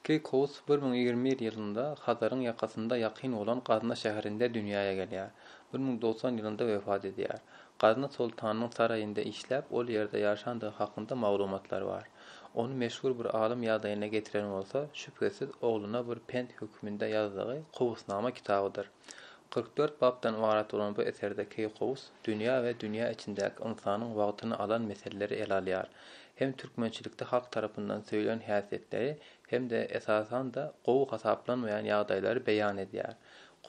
Keýkous bir müň ýigrimi bir ýylynda Hazaryň ýakasynda ýakyn bolan Gazna şäherinde dünýäe gelýär. Bir müň dogsan ýylynda wepat edýär. Gazna soltanynyň saraýynda işläp, ol ýerde ýaşandygy hakynda maglumatlar bar. Ony meşhur bir alym ýagdaýyna getiren bolsa, şübhesiz, ogluna bir pent hökmünde ýazdygy Kowusnama kitabydyr. Kyrk dört bapdan ybarat bolan bu eserde Keýkowus dünýä we dünýä içindäki ynsanyň wagtyny alan meseleleri ele alýar. Hem türkmençilikde halk tarapyndan söýlen häsiýetleri hem-de, esasan-da, gowy hasaplanmaýan ýagdaýlary beýan edýär.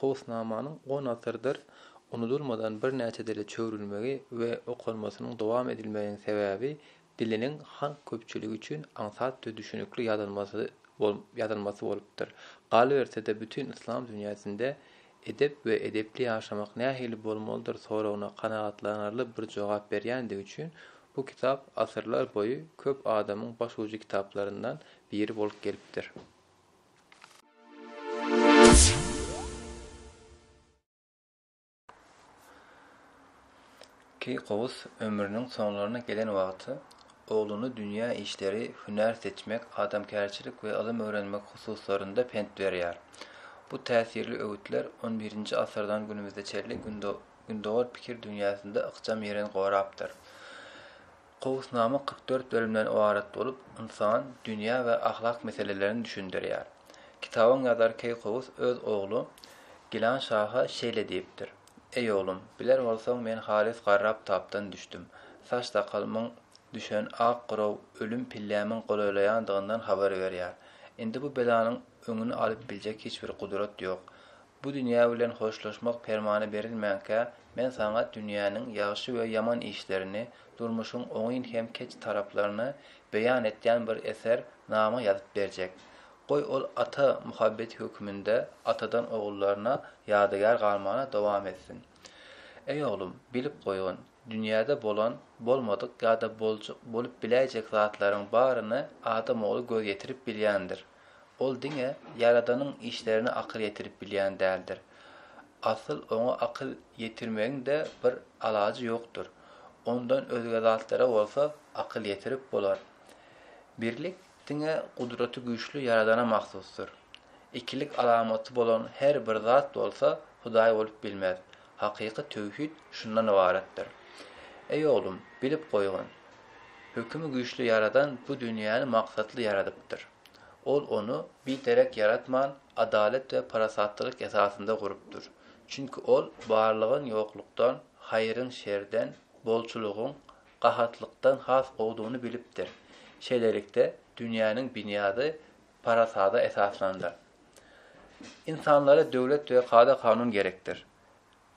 Kowusnamanyň on asyrdyr unudylmadan birnäçe dile çöwrülmegi we okalmasynyň dowam edilmeginiň sebäbi diliniň halk köpçüligi üçin aňsat we düşünikli ýazylmasy bolupdyr. Galyberse-de, bütin yslam dünýäsinde edep we edepli ýaşamak nähili bolmalydyr soragyna kanagatlanarly bir jogap berýändigi üçin bu kitap asyrlar boýy köp adamyň başujy kitaplaryndan biri bolup gelipdir. Keýkowus ömrüniň soňlaryna gelen wagty ogluny dünýä işleri, hünär seçmek, adamkärçilik we ylym öwrenmek hususlarynda pent berýär. Bu täsirli öwütler on birinji asyrdan günümize çenli gündogar pikir dünýäsinde ykjam ýerin gorapdyr. Gowusnama kyrk dört bölümden ybarat bolup, ynsan, dünýä we ahlak meselelerini düşündirýär. Kitabyň ýazary Keýkowus öz ogly Gilan şaha şeýle diýipdir, Eý oglum, biler bolsaň men halys garrap tapdan düşdüm. Saç-sakalymyň düşen ak gyraw ölüm pillämiň golaýlaýandygyndan habar berýär. Indi bu belanyň öňüni alyp biljek hiç bir gudrat ýok. Bu dünýä bilen hoşlaşmak permany berilmänkä, men saňa dünýäniň ýagşy we ýaman işlerini, durmuşyň oňyn hem keç taraplaryny beýan etýän bir eser nama ýazyp berjek. Goý ol ata muhabbeti höküminde atadan ogullaryna ýadygär galmana dowam etsin. Eý oglum, bilip goýgyn, dünýäde bolan, bolmadyk ýa-da boljak, bolup biläýjek zatlaryň baryny adam ogly göz ýetirip bilýändir. Ol diňe Ýaradanyň işlerine akyl ýetirip bilýän däldir. Asyl oňa akyl ýetirmegiň-de bir alajy ýokdur. Ondan özge zatlara bolsa akyl ýetirip bolar. Birlik diňe gudraty güýçli Ýaradana mahsusdyr. Ikilik alamaty bolan her bir zat bolsa Hudaý bolup bilmez. Hakyky töwhid şundan ybaratdyr. Eý oglum, bilip goýgyn, Hökümi güýçli Ýaradan bu dünýäni maksatly ýaradypdyr. Ol ony biderek ýaratman, adalat we parasatlylyk esasynda gurupdyr. Çünki Ol barlygyň ýoklukdan, haýryň şerden, bolçulygyň gahatlykdan has gowudygyny bilipdir. Şeýlelikde, dünýäniň binýady parasada esaslandyr. Ynsanlara döwlet we kada-kanun gerekdir.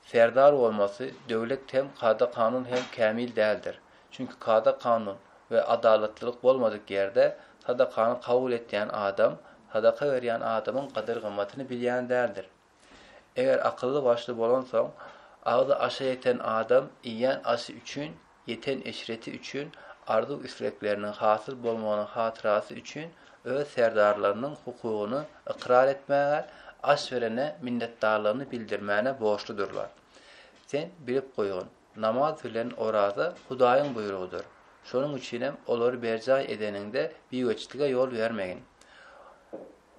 Serdar bolmasy döwlet hem kada-kanun hem kämil däldir. Çünki kada-kanun we adalatlylyk bolmadyk ýerde sadakany kabul etýän adam sadaka berýän adamyň gadyr-gymmatyny bilýän däldir. Eger akylly-başly bolansoň, agzy aşa ýeten adam iýen aşy üçin, ýeten eşreti üçin, arzuw-islegleriniň hasyl bolmagynyň hatyrasy üçin öz serdarlarynyň hukugyny ykrar etmäge, aş berene minnetdarlygyny bildirmäne borçludyrlar. Sen bilip goýgyn, namaz bilen oraza Hudaýyň buýrugydyr. Şonuň üçinem olary berjaý edeniňde bigeçitlige ýol bermegin.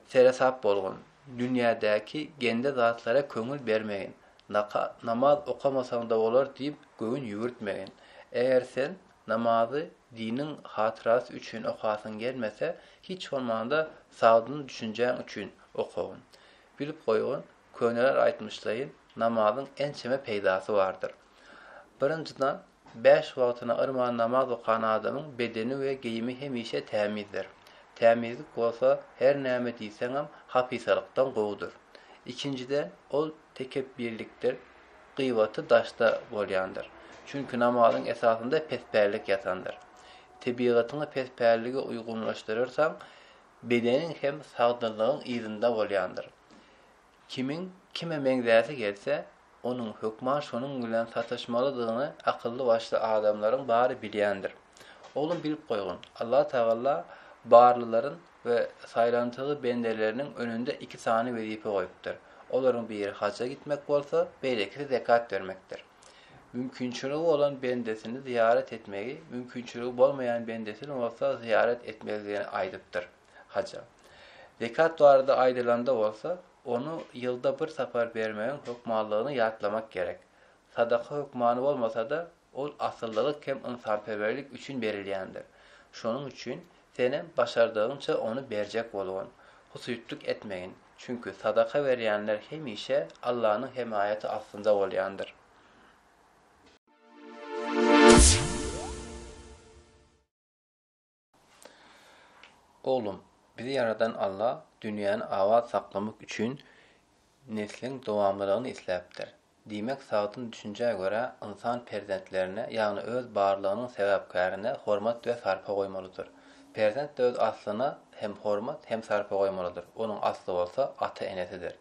Seresap bolgun, dünýädäki gende zatlara köňül bermegin, naka, namaz okamasaň-da bolar diýip göwün ýüwürtmegin. Eger sen namazy diniň hatyrasy üçin okasyň gelmese, hiç bolmanda sagdyn düşünjäň üçin okagyn. Bilip goýgyn, köneler aýtmyşlaýyn, namazyň ençeme peýdasy bardyr. Birinjiden, Bäş wagtyna yrman namaz okan adamyň bedeni we geýimi hemişe tämizdir. Tämizlik bolsa her näme diýseňem hapisarykdan gowudyr. Ikinjiden, ol tekepbirlikdir, gyýbaty daşda bolýandyr. Çünki namazyň esasynda pespällik ýatandyr. Tebigatyňy pespällige uýgunlaşdyryrsaň, bedeniň hem sagdynlygyň yzynda bolýandyr. Kimiň kime meňzäsi gelse, onuň hökman şonuň bilen sataşmalydygyny akylly-başly adamlaryň bary bilýändir. Oglum bilip goýgyn, Allatagalla barlylaryň we saýlantygy bendeleriniň önünde iki sany wezipe goýupdyr. Olaryň biri haja gitmek bolsa, beýlekisi zekat bermekdir. Mümkinçiligi bolan bendesini zyýarat etmegi, mümkinçiligi bolmaýan bendesini bolsa zyýarat etmezligini aýdypdyr. haja. Zekat barada aýdylanda bolsa, ony ýylda bir sapar bermegiň hökmanlygyny ýatlamak gerek. Sadaka hökmany bolmasa-da, ol asyllylyk hem ynsanperwerlik üçin berilýändir. Şonuň üçin senem başardygyňça ony berjek bolgun. Husyýtlyk etmegin, çünki sadaka berýänler hemişe Allanyň hemaýaty astynda bolýandyr. Oglum, bizi ýaradan Alla dünýäni abat saklamak üçin nesliň dowamlylygyny isläpdir. Diýmek, sagdyn düşünjä görä, ynsan perzentlerine, ýagny öz barlygynyň sebäpkärine hormat we sarpa goýmalydyr. Perzent öz aslyna hem hormat, hem sarpa goýmalydyr, onuň asly bolsa ata-enesidir.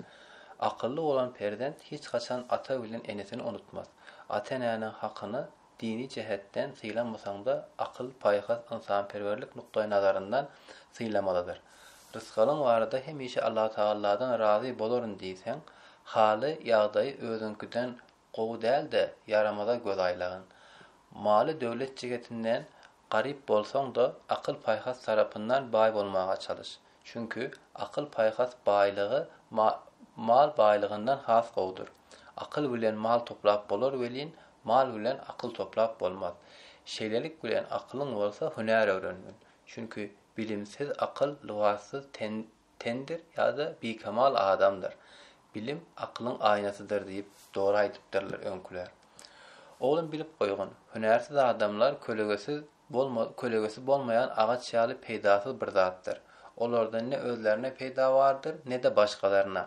Akylly bolan perzent hiç haçan ata bilen enesini unutmaz. Ata-enäniň hakyny dini jähetden sylamasaň-da, akyl, paýhas, ynsanperwerlik nukdaýnazaryndan sylamalydyr. Rysgalyň barada hemişe Allatagalladan razy bolaryn diýseň, haly, ýagdaýy özüňkiden gowy däl-de, ýaramaza göz aýlagyn. Maly-döwlet jigetinden Garyp bolsaň-da, akyl-paýhas tarapyndan baý bolmaga çalyş. Çünki akyl-paýhas baýlygy mal baýlygyndan has gowudyr. Akyl bilen mal toplap bolar welin, mal bilen akyl toplap bolmaz. Şeýlelik bilen akylyň bolsa hünär öwrengin. Çünki bilimsiz akyl, lybassyz ten Tendir ýa-da bikemal adamdyr. Bilim akylyň aýnasydyr diýip, dogry aýdypdyrlar öňküler. Oglum bilip goýgyn, hünärsiz adamlar kölegesiz bolma kölegesi bolmaýan agaç ýaly peýdasyz bir zatdyr. Olardan ne özlerine peýda bardyr, ne-de başgalaryna.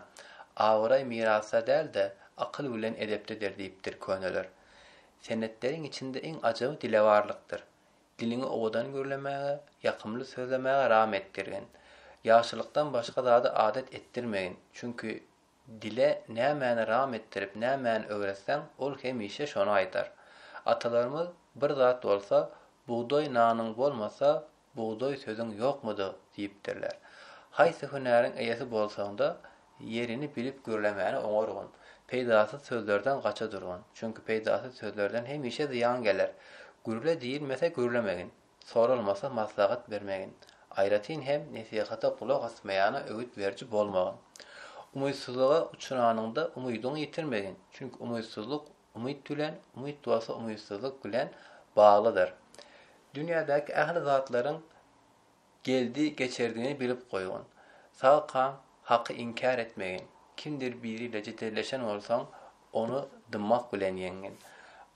Abraý mirasda däl-de, akyl bilen edepdedir diýipdir köneler. Senetleriň içinde iň ajaby dilewarlykdyr. Diliňi owadan gürlemäge, ýakymly sözlemäge ram etdirgin. Ýagşylykdan başga zady adat etdirmegin, çünki dile nämäni ram etdirip, nämäni öwretseň, ol hemişe şony aýdar. Atalarymyz, Bir zat bolsa, bugdaý nanyň bolmasa, bugdaý sözüň ýokmudy? diýipdirler. Haýsy hünäriň eýesi bolsaň-da, Ýerini bilip gürlemäni oňargyn. Peýdasyz sözlerden gaça durgyn. Çünki peýdasyz sözlerden hemişe zyýan geler. Gürle diýilmese gürlemegin. Soralmasa maslahat bermegin. Aýratyn hem nesihata gulak asmaýana öwüt beriji bolmagyn. Umytsyzlyga uçranyňda umydyňy ýitirmegin. Çünki umytsyzlyk umyt bilen, umyt bolsa umytsyzlyk bilen baglydyr. Dünýädäki ähli zatlaryň Geldi geçerdini bilip goýgyn. Sagkaň haky inkär etmegin. Kimdir biri ile jedelleşen bolsaň, ony dymmak bilen ýeňgin.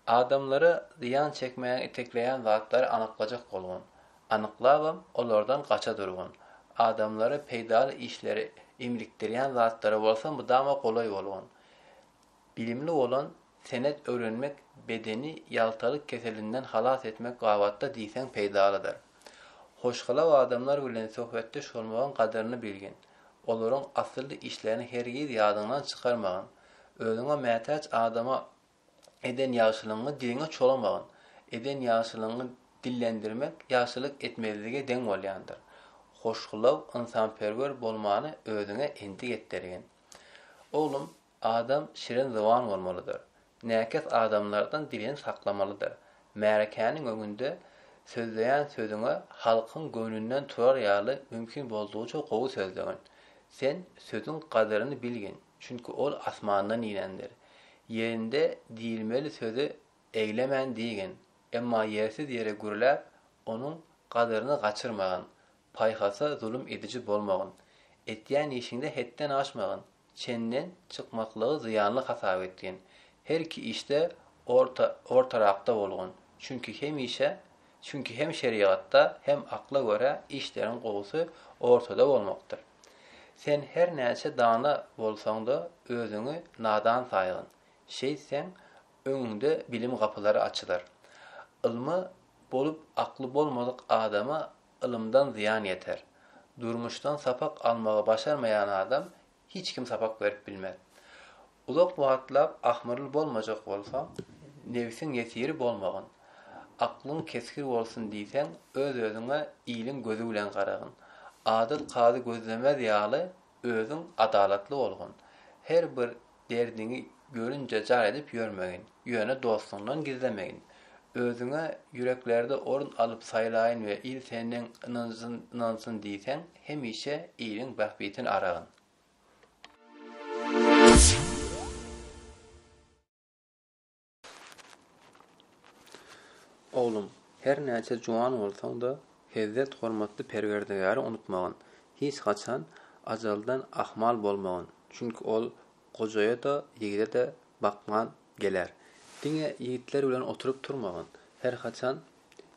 Adamlara zyýan çekmäge itekleýän zatlary anyklajak bolgun. Anyklabam, olardan gaça durgun. Adamlara peýdaly işleri imlikdirýän zatlara bolsa mydama golaý bolgun. Bilimli bolan, senet öwrenmek bedeni ýagtalyk keselinden halas etmek babatda diýseň peýdalydyr. Hoşgylaw adamlar bilen söhbetdeş bolmagyň gadyryny bilgin, olaryň asylly işlerini hergiz ýadyňdan çykarmagyn, özüňe mätäç adama eden ýagşylygyňy diliňe çolamagyn, eden ýagşylygyňy dillendirmek ýagşylyk etmezlige deň bolýandyr. Hoşgylaw, ynsanperwer bolmany özüňe endik etdirgin. Oglum! Adam şirin zyban bolmalydyr. Näkes adamlardan dilini saklamalydyr. Märekäniň öňünde sözleýän sözüňe halkyň göwnünden turar ýaly mümkin boldugyça gowy sözlegin. Sen sözüň gadyryny bilgin, çünki ol asmandan inendir. Ýerinde diýilmeli sözi eglemän diýgin, emma ýersiz ýere gürläp, onuň gadyryny gaçyrmagyn. Paýhasa zulum ediji bolmagyn. Etýän işiňde hetden aşmagyn. Çenden çykmaklygy zyýanly hasap etgin. Her iki işde orta, ortarakda bolgun. Çünki hemişe, çünki hem şerigatda, hem akla görä işleriň gowusy ortada bolmakdyr. Sen her näçe dana bolsaň-da, özüňi nadan saýgyn. Şeýtseň, öňüňde bilim gapylary açylar. Ylmy bolup akly bolmadyk adama Ylymdan zyýan ýeter. Durmuşdan sapak almagy başarmaýan adam hiç kim sapak berip bilmez. Uzak wagtlap ahmyrly bolmajak bolsaň, nebsiň ýesiri bolmagyn. Aklyň kesgir bolsun diýseň, öz-özüňe iliň gözi bilen garagyn. Adyl kazy gözlemez ýaly, Özüň adalatly bolgun. Her bir derdiňi görünje jar edip ýörmegin, ýöne dostuňdan gizlemegin. Özüňe ýüreklerde orun alyp saýlaýyn we il senden ynansyn diýseň, hemişe iliň bähbitini aragyn. Oglum, her näçe juwan bolsaň-da, hezzet hormatly Perwerdigäri unutmagyn. Hiç haçan ajaldan ahmal bolmagyn, çünki ol gojaýa-da, ýigide-de bakman geler. Diňe ýigitler bilen oturyp turmagyn, her haçan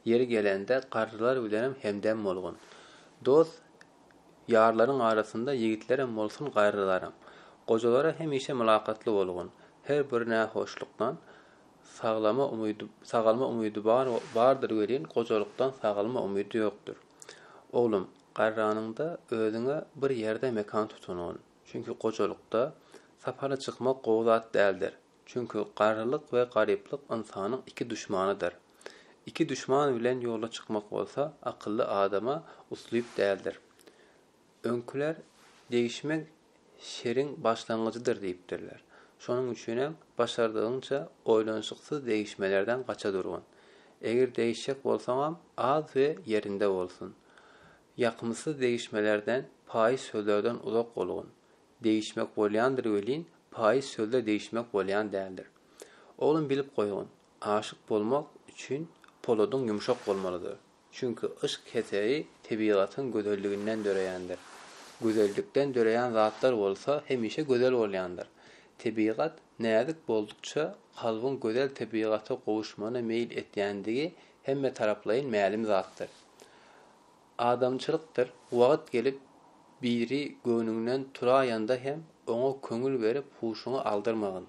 Ýeri gelende garrylar bilenem hemdem bolgun. Dost ýarlaryň arasynda ýigitlerem bolsun garrylaram. Gojalara hemişe mylakatly bolgun. Her bir nähoşlukdan saglama umydy sagalma umydy bar bardyr welin gojalykdan sagalma umydy ýokdur. Oglum, garranyňda özüňe bir ýerde mekan tutungun. Çünki gojalykda sapara çykmak gowy zat däldir. Çünki garrylyk we garyplyk ynsanyň iki duşmanydyr. Iki duşman bilen ýola çykmak bolsa akylly adama uslyp däldir. Öňküler Degişmek şeriň başlangyjydyr diýipdirler. Şonuň üçinem başardygyňça oýlanyşyksyz degişmelerden gaça durgun. Eger degişjek bolsaňam az we ýerinde bolsun. Ýakymsyz degişmelerden, paýyş sözlerden uzak bolgun. degişmek bolýandyr welin, paýyz sözde degişmek bolýan däldir. Oglum bilip goýgyn, aşyk bolmak üçin poladyň ýumşak bolmalydyr. Çünki yşk heseri tebigatyň gözelliginden döreýändir. Gözellikden döreýän zatlar bolsa hemişe gözel bolýandyr. Tebigat näzik boldukça kalbyň gözel tebigata gowuşmana meýil etýändigi hemmetaraplaýyn mälim zatdyr. Adamçylykdyr wagt gelip biri göwnüňden turaýanda hem oňa köňül berip huşuňy aldyrmagyn.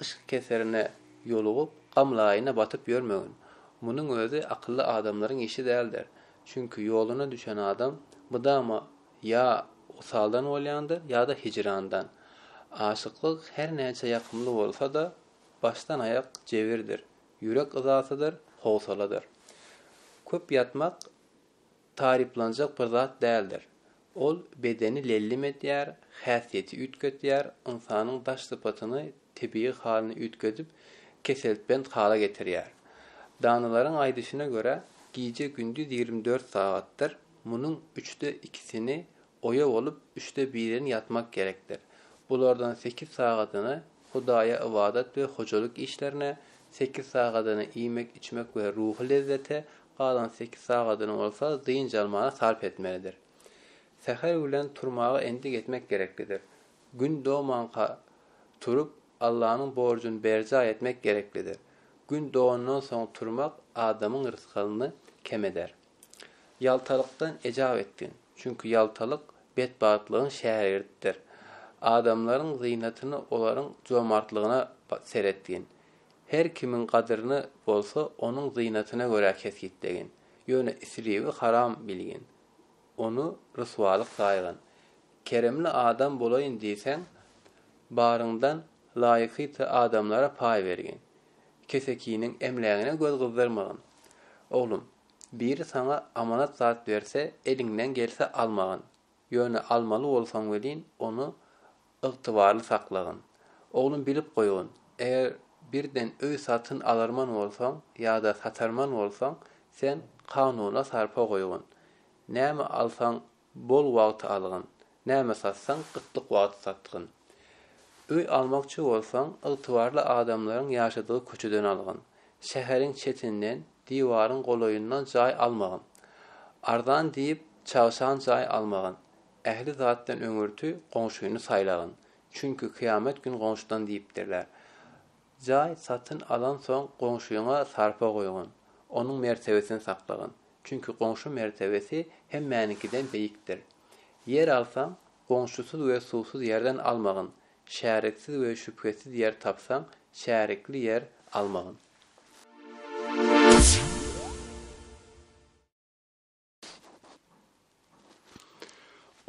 Yşk keserine ýolugyp gam laýyna batyp ýörmegin. Munuň özi akylly adamlaryň işi däldir. Çünki ýoluna düşen adam mydama ýa wysaldan bolýandyr ýa-da hijrandan. Aşyklyk her näçe ýakymly bolsa-da başdan aýak jebirdir. Ýürek yzasydyr, howsaladyr. Köp ýatmak taryplanjak bir zat däldir. Ol bedeni lellim edýär, häsiýeti üýtgedýär, ynsanyň daş sypatyny tebigy halyny üýtgedip, keseltbent hala getirýär. Danalaryň aýdyşyna görä, gije-gündiz ýigrimi dört sagatdyr, munuň üçde ikisini oýa bolup, üçde birini ýatmak gerekdir. Bulardan sekiz sagadyny Hudaýa ybadat we hojalyk işlerine, sekiz sagadyny iýmek-içmek we ruhy lezzete, galan sekiz sagadyny bolsa dynç almaga sarp etmelidir. Säher bilen turmaga endik etmek gereklidir. Gün domanka turup, Allanyň borjuny berjaý etmek gereklidir. Gün dogandan soň turmak adamyň rysgalyny kem eder. Ýaltalykdan ejap etgin, çünki ýaltalyk betbagtlygyň şägirdidir. Adamlaryň zynatyny olaryň jomartlygyna seretgin. Her kimiň gadyryny bolsa onuň zynatyna görä kesgitlegin. Ýöne islewi haram bilgin. Ony ryswalyk saýgyn. Keremli adam bolaýyn diýseň, baryňdan laýykyty adamlara paý bergin. Kesekiniň emlägine göz gyzdyrmagyn. Oglum! Biri saňa amanat zat berse, eliňden gelse almagyn. Ýöne almaly bolsaň welin, ony ygtybarly saklagyn. Oglum bilip goýgyn, eger birden öý satyn alarman bolsaň ýa-da satarman bolsaň, sen kanuna sarpa goýgyn. Näme alsaň Bol wagt algyn, näme satsaň gytlyk wagty satgyn. Öý almakçy bolsaň, ygtybarly adamlaryň ýaşadygy köçeden algyn. Şäheriň çetinden, diwaryň golaýyndan jaý almagyn. Arzan diýip, çagşan jaý almagyn. Ähli zatdan öňürti goňşyny saýlagyn. Çünki kyýamet gün goňşydan diýipdirler. Jaý satyn alansoň goňşyňa sarpa goýgyn, onuň mertebesini saklagyn, çünki goňşy mertebesi hemmäniňkiden beýikdir. Ýer alsaň, goňşusyz we suwsuz ýerden almagyn, şäriksiz we şübhesiz ýer tapsaň, şärikli ýer almagyn.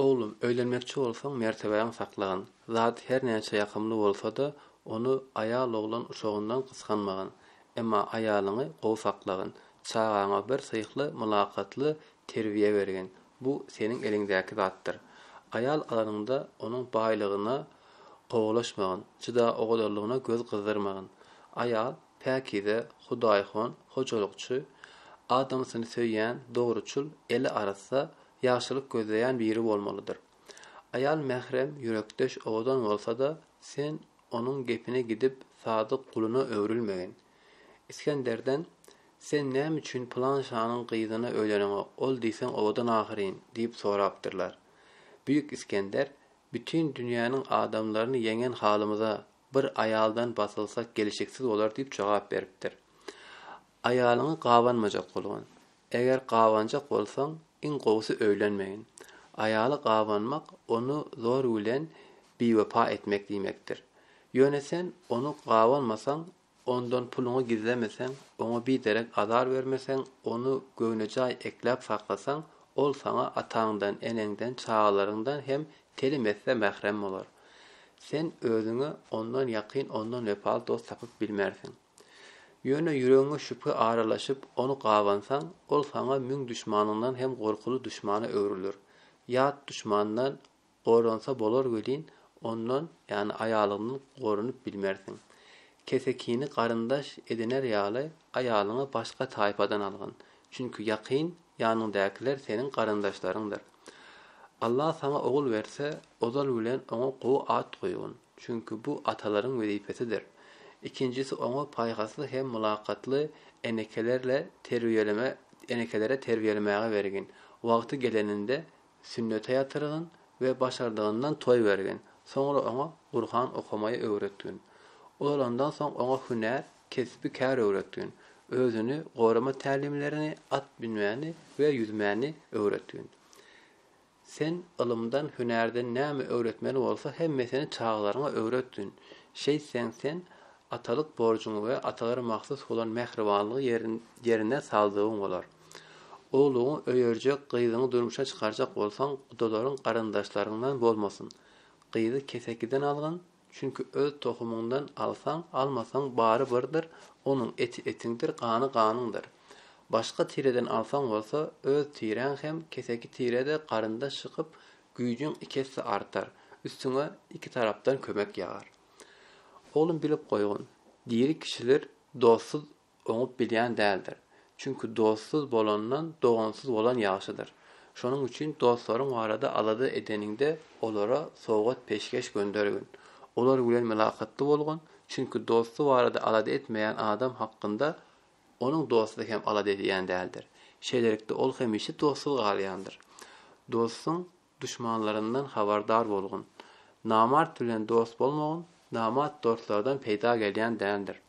Oglum, öýlenmekçi bolsaň, mertebäňi saklagyn. Zat her näçe ýakymly bolsa-da, ony aýal-oglan uşagyndan gysganmagyn. Emma aýalyňy gowy saklagyn. Çagaňa bir syhly, mylakatly terbiýe bergin. Bu seniň eliňdäki zatdyr. Aýal alanyňda onuň baýlygyna gowalaşmagyn, jyda ogadarlygyna göz gyzdyrmagyn. Aýal, päkize, hudaýhon, hojalykçy, adamsyny söýýän, dogruçyl, eli arassa, ýagşylyk gözleýän biri bolmalydyr. Aýal mährem, ýürekdeş, owadan bolsa-da, sen onuň gepine gidip, sadyk guluna öwrülmegin. Isgenderden, Sen näme üçin pylan şanyň gyzyna öýleneňok, ol diýseň owadan ahyryn? diýip sorapdyrlar. Büýük Isgender, Bütin dünýäniň adamlaryny ýeňen halymyza, bir aýaldan basylsak gelşiksiz bolar diýip jogap beripdir. Aýalyňy gabanmajak bolgun. Eger gabanjak bolsaň, iň gowusy öýlenmegin. Aýaly gabanmak ony zor bilen biwepa etmek diýmekdir. Ýöne sen ony gabanmasaň, Ondan puluňy gizlemeseň, oňa biderek azar bermeseň, ony göwnejaý ekläp saklasaň, ol saňa ataňdan, eneňden, çagalaryňdan hem telim etse mährem bolar. Sen özüňe ondan ýakyn, ondan wepaly dost tapyp bilmersiň. Ýöne ýüregiňe şübhe aralaşyp, ony gabansaň, ol saňa müň duşmanyňdan hem gorkuly duşmana öwrüler. Ýat duşmandan Goransa bolar welin, ondan, ýagny aýalyňdan goranyp bilmersiň. Kesekini garyndaş ediner ýaly, aýalyňy başga taýpadan algyn. Çünki ýakyn ýanyňdakylar seniň garyndaşlaryňdyr. Allah saňa ogul berse, ozal bilen oňa gowy at goýgyn. Çünki bu atalaryň wezipesidir. Ikinjisi oňa paýhasly hem mylakatly enekelerle terbiýeleme enekelere terbiýelemäge bergin. Wagty geleninde Sünnete ýatyrgyn we başardygyndan toý bergin. Soňra oňa Gurhan okamaýy öwretgin. Ulalandan soň oňa hünär, kesbi kär öwretgin. Özüni gorama tälimlerini, at münmäni we ýüzmäni öwretgin. Sen ylymdan, hünärden näme öwretmeli bolsa hemmesini çagalaryňa öwretgin. Şeýtseň sen atalyk borjuňy we atalara mahsus bolan mähribanlygy ýerine saldygyň bolar. Ogluňy öýerjek gyzyňy durmuşa çykarjak bolsaň gudalaryň garyndaşlaryňdan bolmasyn. Gyzy kesekiden algyn, çünki öz tohumyňdan alsaň, almasaň bary birdir, onuň eti etiňdir, gany ganyňdyr. Başga tireden alsaň bolsa, öz tiräň hem keseki tirede garyndaş çykyp, güýjüň iki esse artar, üstüňe iki tarapdan kömek ýagar. Oglum bilip goýgun, diri kişiler dostsuz oňup bilýän däldir. Çünki dostsuz bolandan dogansyz bolan ýagşydyr. Şonuň üçin dostlaryň barada alada edeniňde olara sowgat-peşgeş göndergin. Olar bilen mylakatly bolgun, çünki dosty barada alada etmeýän adam hakynda onuň dosty hem alada edýän däldir. Şeýlelikde ol hemişe dostsuz galýandyr. Dostuň Duşmanlaryndan habardar bolgun. Namart bilen dost bolmagyn, namart dostlardan peýda gelýän däldir.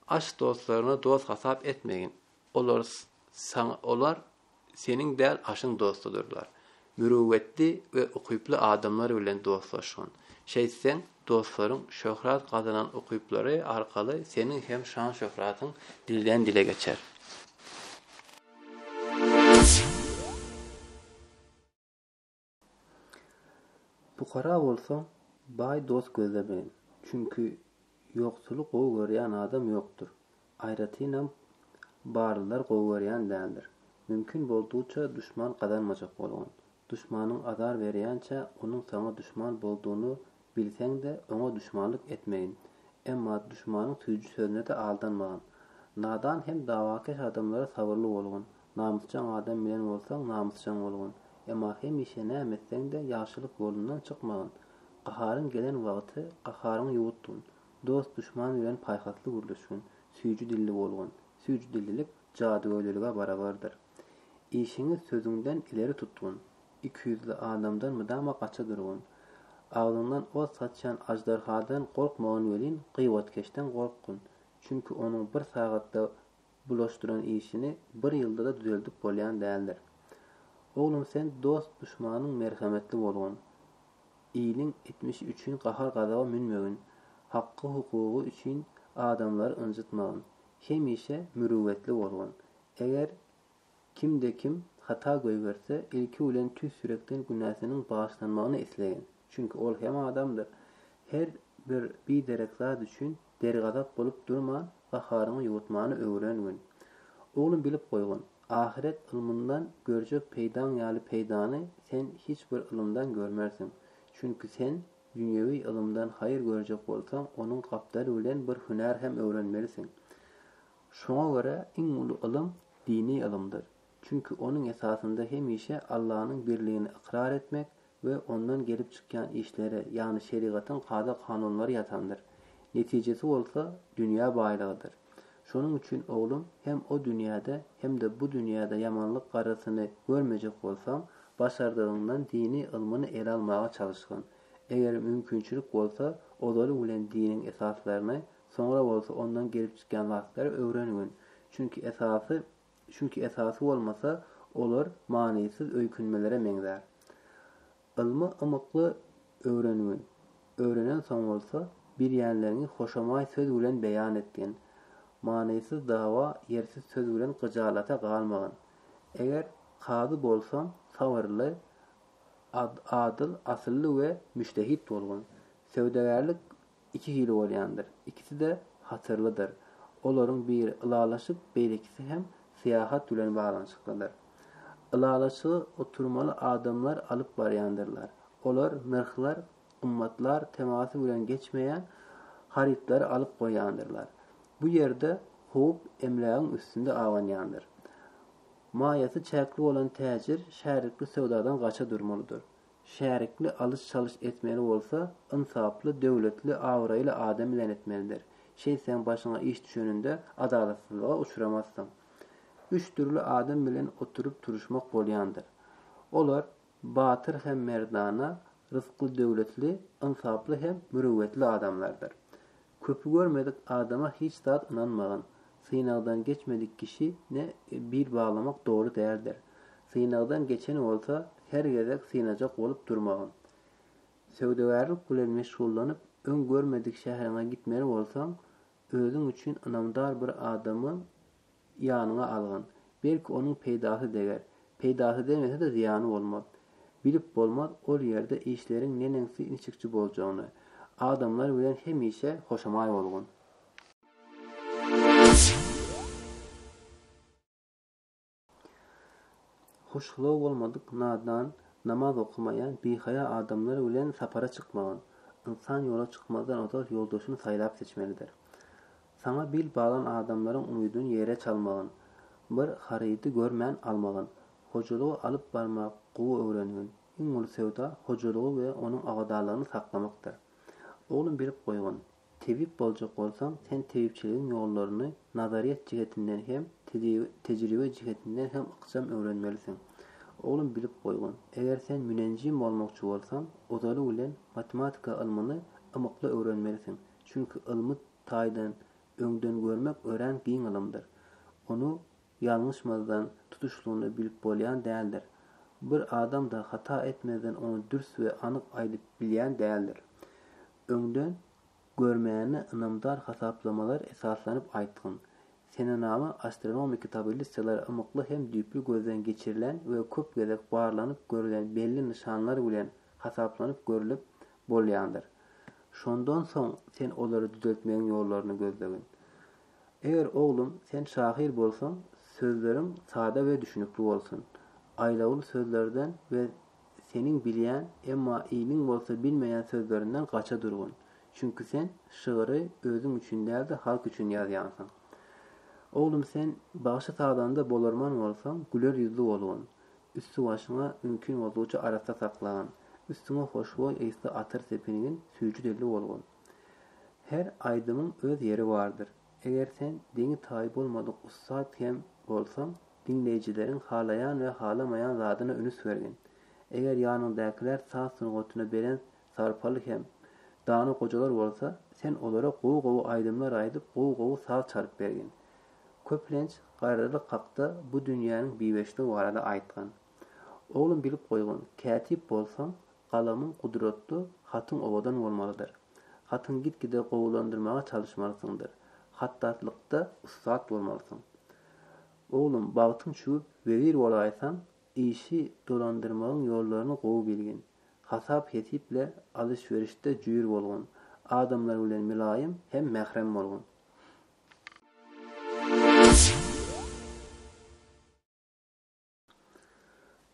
Aç dostlaryňy dost hasap etmegin. Olar saňa olar seniň däl aşyň dostudyrlar. Mürüwwetli we ukyply adamlar bilen dostlaşgyn. Şeýtseň, dostlaryň şöhrat gazanan ukyplary arkaly seniň hem şan-şöhratyň dilden dile geçer. Pukara bolsaň, baý dost gözlemeýin. Çünki ýoksuly gowy görýän adam ýokdur. Aýratynam, barlylar gowy görýän däldir. Mümkin boldugyça duşman gazanmajak bolgun. Duşmanyň azar berýänçä onuň saňa duşman boldugyny bilseň-de, oňa duşmanlyk etmegin. Emma duşmanyň süýji sözüne-de aldanmagyn. Nadan hem dawakeş adamlara sabyrly bolgun. Namysjaň adam bilen bolsaň namysjaň bolgun, emma hemişe näme etseň-de ýagşylyk ýolundan çykmagyn. Gaharyň gelen wagty gaharyňy ýuwutgyn. Dost-duşman bilen paýhasly gürleşgin. Süýji dilli bolgun. Süýji dillilik jadygöýlülige barabardyr. Işiňi sözüňden ileri tutgun. Ikiýüzli adamdan mydama gaça durgun. Agzyňdan ot saçýan aždarhadan gorkmagyn welin, gybatkeşden gorkgyn. Çünki onuň bir sagatda bulaşdyran işini bir ýylda-da düzeldip bolýan däldir. Oglum sen dost-duşmanyň merhemetli bolgun, iliň etmişi üçin gahar-gazaba münmegin, haky-hukugy üçin adamlary ynjytmagyn, hemişe mürüwwetli bolgun. Eger Kimde-kim hata goýberse, ilki bilen tüýs ýürekden günäsiniň bagyşlanmagyny islegen. Çünki ol hem adamdyr. Her bir biderek zat üçin dergazap bolup durman, gaharyňy ýuwutmany öwren gün. Oglum bilip goýgun, ahyret ylmyndan görjek peýdaň ýaly peýdany sen hiç bir ylymdan görmersiň. Çünki sen dünýewi ylymdan haýyr görjek bolsaň, onuň gapdaly bilen bir hünär hem öwrenmelisiň. Şoňa görä iň uly ylym dini ylymdyr. Çünki onuň esasynda hemişe Allanyň birligini ykrar etmek we ondan gelip çykýan işleri, ýagny şerigatyň kada-kanunlary ýatandyr. Netijesi bolsa dünýä baýlygydyr. Şonuň üçin oglum hem o dünýäde hem-de bu dünýäde ýamanlyk garrysyny görmejek bolsaň, başardygyňdan dini ylmyny ele almaga çalyşgyn. Eger mümkinçilik bolsa, ozaly bilen diniň esaslaryny Soňra bolsa ondan gelip çykýan zatlary öwrenigin. Çünki esasy çünki esasy bolmasa, olar manysyz öýkünmelere meňzär. Ylmy ymykly öwrenigin. Öwrenensoň bolsa, bilýänleriňi hoşamaý söz bilen beýan etgin. Manysyz dawa, ýersiz söz bilen gyjalata galmagyn. Eger kazy bolsaň, sabyrly, adyl, asylly we müjtehit bolgun. Söwdagärlik iki hili bolýandyr. Ikisi-de hatyrlydyr. Olaryň biri ylalaşyk, beýlekisi hem syýahat bilen baglanyşyklydyr. Ylalaşygy oturmaly adamlar alyp barýandyrlar. Olar nyrhlar, gymmatlar temasy bilen geçmeýän harytlary alyp goýýandyrlar. Bu ýerde howp emlägiň üstünde abanýandyr. Maýasy çäkli bolan täjir şärikli söwdadan gaça durmalydyr. Şärikli alyş-çalyş etmeli bolsa, ynsaply, döwletli, abraýly adam bilen etmelidir. Şeýtseň başyňa iş düşeninde adalatsyzlyga uçramazsyň. Üç dürli adam bilen oturyp-turuşmak bolýandyr. Olar, batyr hem merdana, ryzkly-döwletli, ynsaply hem mürüwwetli adamlardyr. Köpi görmedik adama hiç zat ynanmagyn. Synagdan geçmedik kişi ne bil baglamak doly däldir. Synagdan geçen bolsa her gezek synajak bolup durmagyn. Söwdagärlik bilen meşgullanyp öň görmedik şäheriňe gitmeli bolsaň, özüň üçin ynamdar bir adamy Ýanyňa algyn. Belki onuň peýdasy deger. Peýdasy degmese-de zyýany bolmaz. Bilip bolmaz ol ýerde işleriň neneňsi niçikçi boljagyny. Adamlar bilen hemişe hoşamaý bolgun. Hoşgylaw bolmadyk nadan, namaz okamaýan bihaýa adamlar bilen sapara çykmagyn. Ynsan ýola çykmazdan ozal ýoldaşyny saýlap-seçmelidir. Saňa bil baglan adamlaryň umydyn ýere çalmagyn. Bir harydy görmän almagyn. Hojalygy alyp barmak gowy öwrenigin. Iň uly söwda hojalygy we onuň abadanlygyny saklamakdyr. Oglum bilip goýgyn, tebip boljak bolsaň, sen tebipçiligiň ýollaryny nazaryýet jihetinden hem, tejribe jihetinden hem ykjam öwrenmelisiň. Oglum bilip goýgyn, eger sen münenjim bolmakçy bolsaň, ozaly bilen matematika ylmyny ymykly öwrenmelisiň, çünki ylmy taýdan öňdengörmek örän giň ylymdyr. Ony ýalňyşmazdan tutuşlygyna bilip bolýan däldir. Bir adam-da hata etmezden ony dürs we anyk aýdyp bilýän däldir. Öňden görmäni ynamdar hasaplamalar esaslanyp aýtgyn. Senenama astronomiki tabellissalar ymykly hem düýpli gözden geçirilen we köp gezek barlanyp görülen belli nyşanlar bilen hasaplanyp görülip, bolýandyr. Şondan soň sen olary düzeltmegiň ýollaryny gözlegin. Eger oglum, sen şahyr bolsaň, sözleriň sada we düşünikli bolsun. Aýlawly sözlerden we seniň bilýän, emma iliň bolsa bilmeýän sözlerinden gaça durgyn. Çünki sen şygyry özüň üçin däl-de halk üçin ýazýansyň. Oglum sen bagşy-sazanda bolarman bolsaň, güler ýüzli bolgyn. Üsti-başyňa mümkin boldugyça arassa saklan. Üstüňe hoşboý ysly atyr sepingin, süýji dilli bolgun. Her aýdymyň öz ýeri bardyr. Eger sen deňi-taýy bolmadyk ussat hem bolsaň, diňleýjileriň halaýan we halamaýan zadyna ünüs bergin. Eger ýanyňdakylar saz sungatyna belent Sarpaly hem dana gojalar bolsa, sen olara gowy-gowy aýdymlar aýdyp, gowy-gowy saz çalyp bergin. Köplenç garrylyk hakda bu dünýäniň biweçligi barada aýtgyn. Oglum bilip goýgyn, kätip bolsaň, galamyň gudratly, hatyň owadan bolmalydyr. Hatyňy git-gide gowulandyrmaga çalyşmalysyňdyr. Hattatlykda ussat bolmalysyň. Oglum, bagtyň çüwüp, wezir bolaýsaň, Işi dolandyrmagyň ýollaryny gowy bilgin. Hasap-hesip ile alyş-berişde jüýr bolgun. Adamlar bilen mylaýym hem mährem bolgun.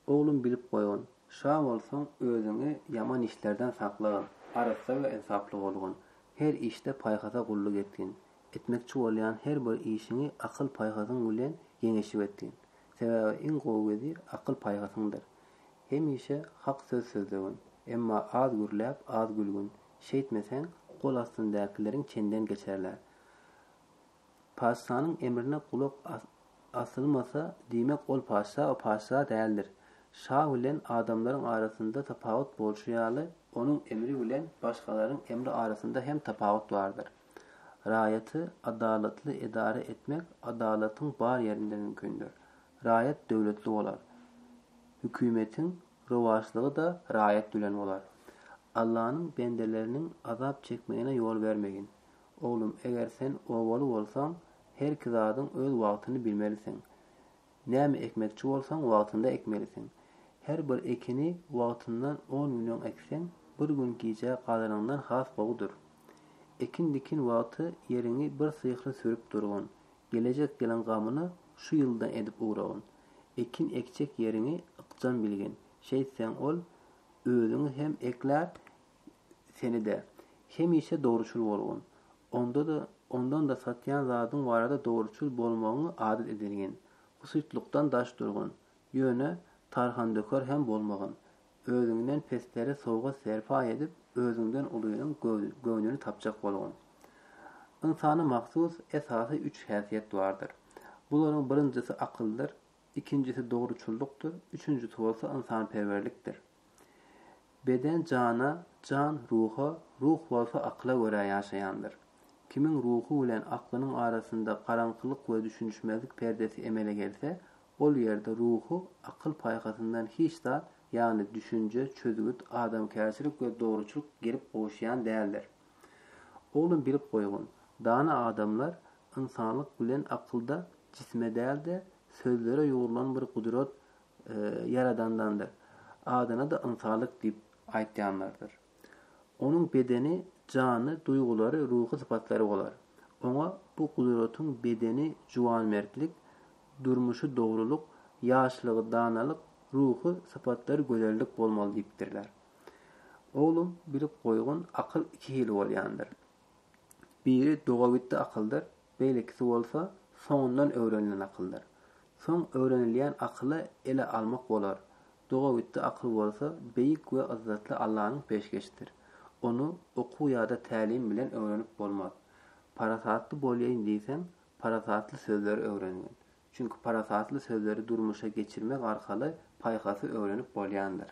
Oglum bilip goýgyn. Şa bolsaň, özüňi ýaman işlerden saklagyn. Arassa we ynsaply bolgun. Her işde paýhasa gulluk etgin. Etmekçi bolýan her bir işiňi akyl-paýhasyň bilen ýeňeşip etgin. Sebäbi iň gowy gözi akyl-paýhasyňdyr. Hemişe hak söz sözlegin, emma az gürläp, az gülgin. Şeýtmeseň, gol astyndakylaryň çenden geçerler. Patyşanyň emrine gulak asylmasa, diýmek, ol patyşa patyşa däldir. Şa bilen adamlaryň arasynda tapawut bolşy ýaly, onuň emri bilen başgalaryň emri arasynda hem tapawut bardyr. Raýaty adalatly edara etmek adalatyň bar ýerinde mümkindir. Raýat döwletli bolar. Hükümetiň rowaçlygy-da raýat bilen bolar. Allanyň bendeleriniň azap çekmegine ýol bermegin. Oglum, eger sen obaly bolsaň, herki zadyň öz wagtyny bilmelisiň. Näme ekmekçi bolsaň, wagtynda ekmelisiň. Her bir ekini wagtyndan on gün öň ekseň, bir gün gijä galanyňdan has gowy dur. Ekin-dikin wagty ýeriňi bir syhly sürüp durgun. Gelejek ýylyň gamyny şu ýyldan edip ugragyn. Ekin ekjek ýeriňi ykjam bilgin. Şeýtseň ol özüňi hem eklär, Seni-de. Hemişe dogruçyl bolgun. Onda-da, ondan-da satýan zadyň barada dogruçyl bolmagyňy adat edingin. Pysytlykdan daş durgyn. Ýöne, tarhandöker hem bolmagyn. Özüňden peslere sowgat-serpaý edip, özüňden ulynyň göwnüni tapjak bolgun. Ynsana mahsus esasy üç häsiýet bardyr. Bularyň birinjisi akyldyr, ikinjisi dogruçyllykdyr, üçünjisi bolsa ynsanperwerlikdir. Beden jana, jan ruha, ruh bolsa akyla görä ýaşaýandyr. Kimiň ruhy bilen aklynyň arasynda garaňkylyk we düşünişmezlik perdesi emele gelse, ol ýerde ruhy akyl-paýhasyndan hiç zat, ýagny düşünje, çözgüt, adamkärçilik we dogruçylyk gelip gowuşýan däldir. Oglum bilip goýgun, dana adamlar ynsanlyk bilen akylda jisme däl-de, sözlere ýugrulan bir gudrat Ýaradandandyr. Adyna-da ynsanlyk diýip aýtýanlardyr. Onuň bedeni, jany, duýgulary, ruhy sypatlary bolar. Oňa bu gudratyň bedeni juwanmertlik, durmuşy dogrulyk, ýaşlygy danalyk, ruhy sypatlary gözellik bolmaly diýipdirler. Oglum, bilip goýgun, akyl iki hili bolýandyr. Biri dogabitdi akyldyr, beýlekisi bolsa soňundan öwrenilen akyldyr. Soň öwrenilýän akyly ele almak bolar. Dogabitdi akyl bolsa beýik we yzzatly Allanyň peşgeşidir. Ony okuw ýa-da tälim bilen öwrenip bolmaz. Parasatly bolýaýyn diýseň, parasatly sözleri öwrengin. Çünki parasatly sözleri durmuşa geçirmek arkaly paýhasy öwrenip bolýandyr.